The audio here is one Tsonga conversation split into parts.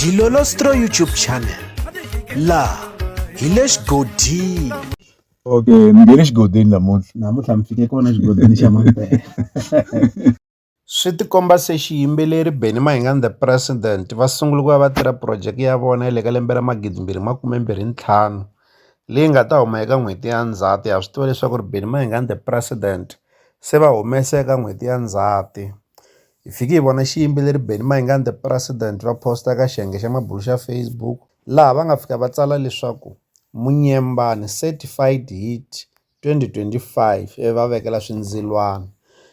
Dilolostro YouTube channel la hi le xigodini okay mi nge le xigodini namuntlha namuntlha mi fike kona xigodini xa mampela swi tikomba se xiyimbeleri Benny Mayengani the President va sungule ku va va tirha phurojeke ya vona ya le ka lembe ra magidimbirhi makumembirhi ntlhanu leyi nga ta huma eka n'hweti ya Ndzhati ha swi tiva leswaku ri Benny Mayengani the President se va humese eka n'hweti ya Ndzhati Hi fike hi vona xiyimbeleri Benny Mayengani The President va posta eka xiyenge xa mabulo xa Facebook laha va nga fika va tsala leswaku Munyembani Certified Hit 2025 ivi va vekela swindzilwana.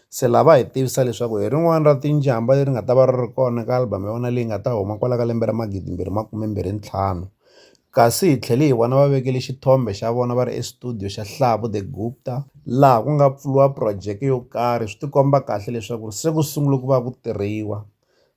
Se laha va hi tivisa leswaku hi rin'wana ra tinjhambha leri nga ta va ri ri kona eka album ya vona leyi nga ta huma kwala ka lembe ra magidimbirhi makume mbirhi ntlhanu. kasi hi tlhele hi vona va vekele xithombe xa vona va ri exitudiyo xa Hlavu The Gupta laha ku nga pfuriwa phurojeke yo karhi swi tikomba kahle leswaku se ku sungule ku va ku tirhiwa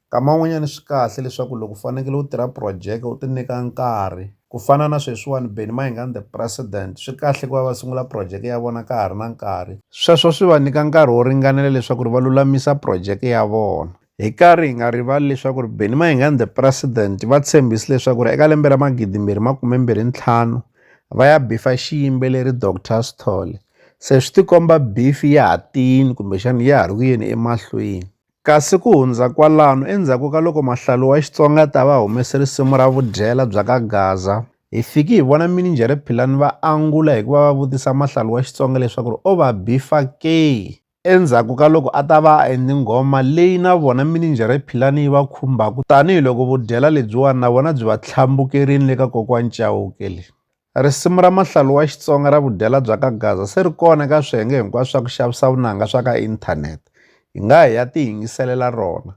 nkama wun'wanyana swi kahle leswaku loko u fanekele u tirha phurojeke u ti nyika nkarhi ku fana na sweswiwani Benny Mayengani The President swi kahle ku va va sungula phurojeke ya vona ka ha ri na nkarhi sweswo swi va nyika nkarhi wo ringanela leswaku ri va lulamisa phurojeke ya vona. Hi karhi hi nga rivali leswaku ri Benny Mayengani the president va tshembisi leswaku ri eka lembe ra magidi mbirhi makume mbirhi ntlhanu va ya bifa xiyimbeleri Dr Sithole se swi tikomba bifi ya ha tiyini kumbexana ya ha ri ku yeni emahlweni kasi ku hundza kwalano endzhaku ka loko mahlalu wa Xitsonga ta va humese risimu ra vudyela bya ka Gaza hi fiki hi vona mininjhere Philani va angula hikuva va vutisa mahlalu wa Xitsonga leswaku ri o va bifa ke endzhaku ka loko a ta va a endli nghoma leyi na vona mininjhere Philani yi va khumbaka tanihiloko vudyela lebyiwani na vona byi va tlhambukerini le ka Kokwani Chauke le. Risimu ra Mahlalu wa Xitsonga ra vudyela bya ka Gaza se ri kona eka swiyenge hinkwaswo swa ku xavisa vunanga swa ka inthanete. Hi nga hi ya tiyingiselela rona.